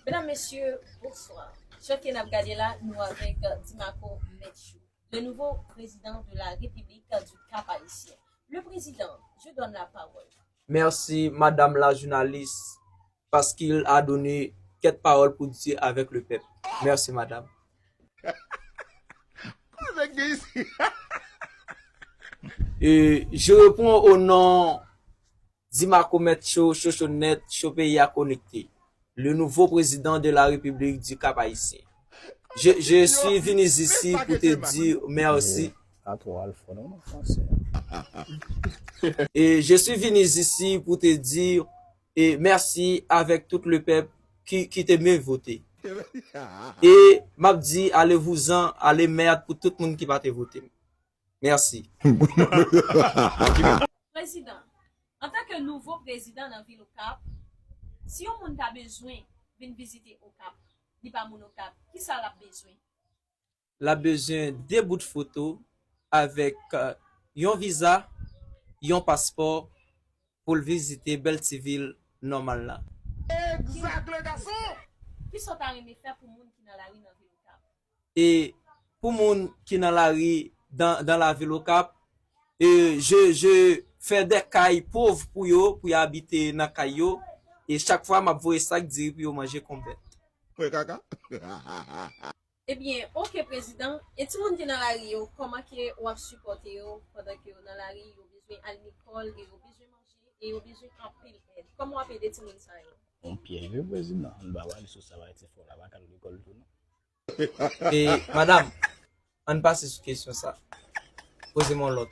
Medam mesye bonswa jan ke nap gade la nou avèk Dimako Mètchou le nouvo prezidan de la repiblik du kap ayisyen le prezidan je donn la pawòl. Merci madame la jounalis paskil a done kèt pawòl pou di avèk le pèp merci madame. Je repon o non Di Marco mèt cho, cho cho nèt, cho peyi a konekte. Le nouveau president de la republique du cap haïtien. Je, je suis venu ici pou te dire merci. Je suis venu ici pou te dire merci avec tout le peuple qui, qui te me vote. Et map di ale vouzan, ale merd pou tout moun ki pa te vote m. Merci. Prezidan, Antan ke nouvo prezidan nan vil Okap, si yon moun ta bezwen vin vizite Okap, li pa moun Okap, kisa l ap bezwen? L ap bezwen 2 bout foto avèk yon viza, yon paspò pou l vizite bèl ti vil nòmal la. Kisa w ta renmen fè pou moun ki nan lari nan vil Okap? e pou moun ki nan lari dan dan lavil okap e je je fè dè kay pov pou yo pou yo abite nan kay yo e chak fwa map voye sak diri pou yo manje kon bèt. Mwen kaka hahahaa. Ebyen ok prezidan, e ti moun ki nan lari yo kòman ke wap sipòte yo pandan ke yo nan lari yo bezwen al lekòl e yo bezwen manje e yo bezwen anpil èd kòman wap ede ti moun sa yo. Bon pyèj wi prezidan, ann ba wale sou sa wale se fòl a pa k al lekòl tou non. E madam, ann pase sou kesyon sa. Poze m yon lòt.